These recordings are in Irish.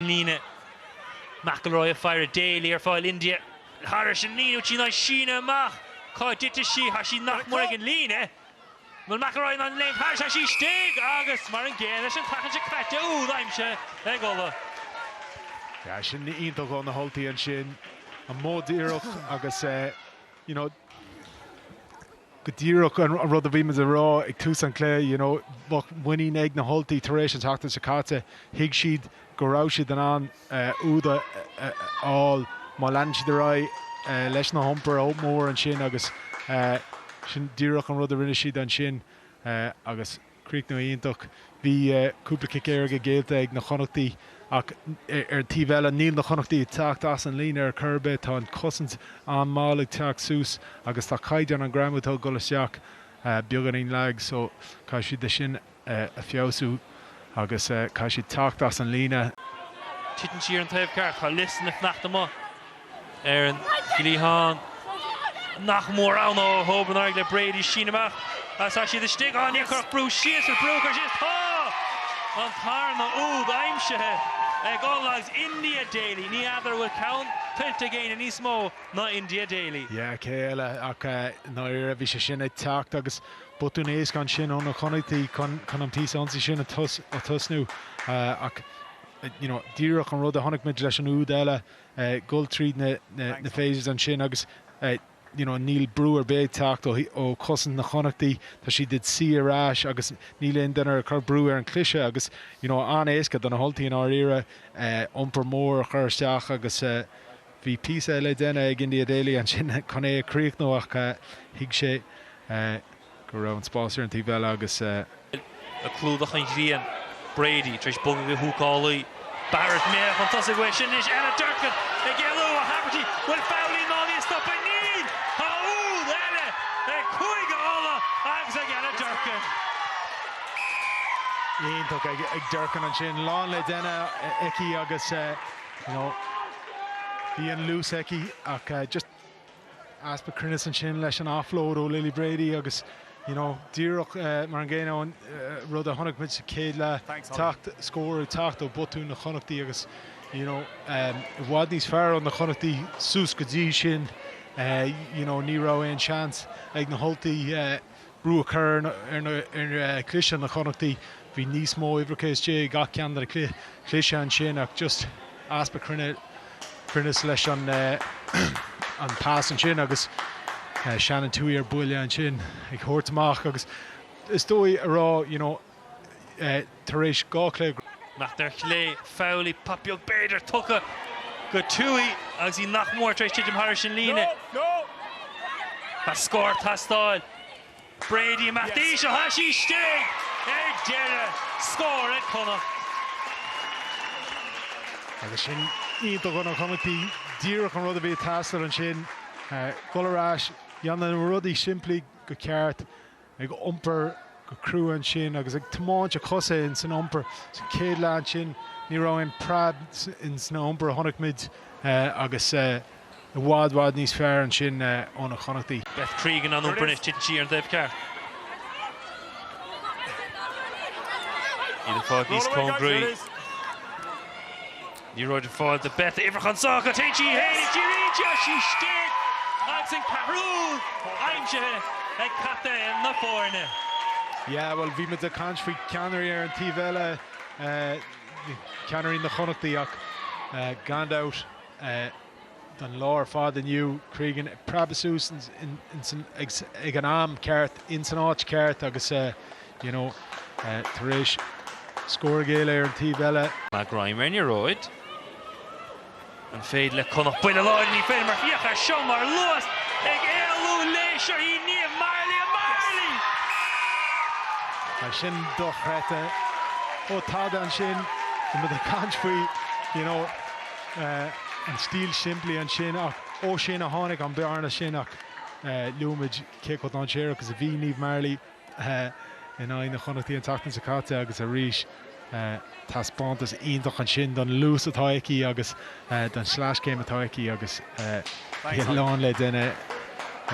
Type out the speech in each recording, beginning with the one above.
líne. McIlroy ag faire Daley ar fáil India. Thairis an líne tí ná síneadh amach. Cá dtitfidh sí? Tá sí nach mór ag an líne. Bhfuil McIlroy in ann léimt thairis? Tá sí istigh! Agus mar an gcéanna leis an tseachtain seo caite úd aimsithe ag Ulaidh. Yeah, sin iontach ó na hUltaigh ansin. An modh díreach agus, you know, go díreach an rud a bhí muid a rá ag tús an cluiche, you know bheadh muinín ag na hUltaigh tar éis an tseachtain seo caite, thuig siad go raibh siad in ann úd a fháil má leanann siad ar aghaidh leis na hiompar mór ansin agus sin díreach an rud a rinne siad ansin agus. Críochnú iontach. Bhí cúpla cic éirice géillte ag na Connachtaigh ach ar an taobh eile níl na Connachtaigh ag teacht as an líne ar chor ar bith. Tá an chosaint an-mall ag teacht suas agus tá caighdeán an ghreamú atá ag dul isteach beagáinín lag so caithfidh siad é sin a feabhsú agus caithfidh siad teacht as an líne. Titeann sí ar an taobh ceart. Tá Lucinda ag fanacht amuigh. ar an gcliathán. nach mór ann ó Hogan ar aghaidh le Brady síneadh amach is tá siad istigh á Níor cuireadh brú síos ar brú a chur síos Tá an tarna úd aimsithe ag Ulaidh agus India Daley ní fheadar an bhfuil ceann tuillte ag éinne níos mó ná India Daley? yeah cé eile ach i ndáiríre bhí sé sin ag teacht agus botún éasca ansin ó na Connachtaigh chun chun an píosa ionsaí sin a tosnú ach you know díreach an rud a chonaic muid leis an úd eile eh, dul tríd na, na, na phases ansin agus eh, you know níl brú ar bith ag teacht ó, ó chosaint na Connachtaí, tá siad ag suí ar ais agus níl aon duine ag cur brú ar an chliseadh agus you know an-éasca do na hUltaigh i ndáiríre eh, iompar mór a chur isteach agus eh, bhí píosa le déanamh ag India Daley ansin chun é a chríochnú ach eh, thuig sé eh, go raibh an spás ar an taobh eile agus. le clúdach an ghrian. Brady tar éis bogadh go húcálaí. Barrett mear chun tosaigh uaidh sin anois Ella Durkan ag éalú ó Haverty. Bhfuil Fowley in ann í a stopadh. Níl! Tá úd eile ag Cúige Uladh agus ag Ella Durkan. iontach ag Durkan ansin. Lán le déanamh aici agus bhí an luas aici ach just. easpa cruinneas ansin leis an offload ó Lily Brady agus you know díreach mar an gcéanna an rud a chonaic muid sa chéad leath teacht scór ag teacht ó botúin na Connachtaí agus you know i bhfad níos fearr ó na Connachtaí suas go dtí sin you know ní raibh aon seans ag na hUltaigh brú a chur ar chliseadh na Connachtaí. Bhí níos mó uimhreacha istigh i gach ceann de na cliseadh ansin ach just easpa cruinneas leis an an pass ansin agus Shannon Touhey ar buile ansin ag thabhairt amach agus is dóigh a rá, you know, tar éis dhá chluiche. Connacht ar chlé, Fowley pop beag b'fhéidir, tugtha go Touhey agus í nach mór tar éis titim thairis an líne. Tá scór ag teastáil. Brady imeacht anois ó tá sí istigh! Ar deireadh, scór ag Connacht. Agus sin iontach ó na Connachtaigh, díreach an rud a bhí ag teastáil ansin. Dul ar ais, dhéanamh na rudaí simplí go ceart. ag iompar go crua ansin agus ag tiomáint a chosa ins an iompar. San chéad leath ansin ní raibh aon preab ins na iompar a chonaic muid agus i bhfad, bhfad níos fearr ansin ó na Connachtaí. Beth Cregan ag iompar anois, titeann sí ar an dtaobh ceart. Iad ag fáil níos cóngaraí. Liathróid ar fáil do Beth uimhreach an sáith go téann sí féin go díreach tá sí istigh agus an ceathrú úd aimsithe ag captaen na foirne. Yeah bhuel bhí muid ag caint faoi ceannairí ar an taobh eile, ceannairí na Chonnachtaí ach gan dabht, don lá ar fad inniu. Cregan ag preabadh suas ag an am ceart, in san áit cheart agus you know tar éis scór a ghéilleadh ar an taobh eile. Mac Greim ar an liathróid. An féidir le Connacht buille a fháil? Ní féidir mar féach air seo mar luas ag éalú léi. Seo í Niamh Marley, a Marley! Tá sin dochreidte. Ó tada ansin, bhí muid ag caint faoi you know. an stíl shimplí ansin ach ó sin a tháinig an bhearna sin ach luaigh muid cé chomh dainséarach is a bhí Niamh Marley in aghaidh na Connachtaí an tseachtain seo caite agus arís taispeántas iontach ansin don luas atá aici agus don sleaschéim atá aici agus bhí a lán le déanamh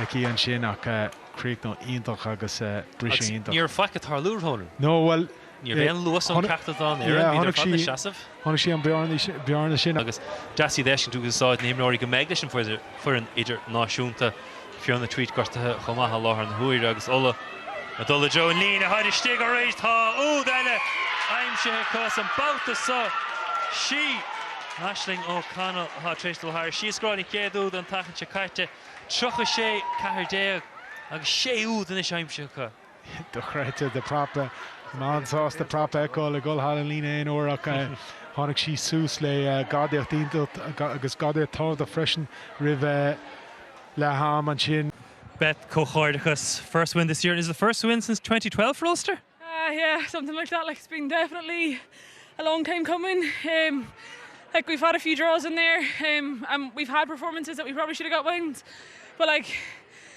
aici ansin ach críochnú iontach agus briseadh iontach. Ní raibh faic ag tarlú romhainn. No, bhuel, Ní raibh aon luas ó cheachtar den dá fhoireann, bhíodar ar fad ina seasamh. Chonaic sí an bhearna sin agus deas é a fheiscint go úsáideann na himreoirí go mbeidh leis an bhfoireann idirnáisiúnta. Fiona Tuite gortaithe chomh maith i láthair na huaire agus Ulaidh ag dul i dtreo an líne táid istigh arís. Tá úd eile aimsithe acu an babhta seo. Sí Aisling O'Connell atá tar éis dul thair. Sí a scóráil an chéad úd an tseachtain seo caite, 36, 14, agus sé úd anois aimsithe acu. dochreidte de prap. Bhí mé an-sásta prap a fheiceáil ag dul thar an líne aon uair ach tháinig sí suas le gadaíocht iontach agus gadaíocht tábhachtach freisin roimh leath am ansin. Beth, Comhghairdeachas. First win this year, is it the first win since twenty twelve for Ulster? Ah yeah, something like that, like it's been definitely a long time coming. Um like we've had a few draws in there um and we've had performances that we probably should have got wins but like,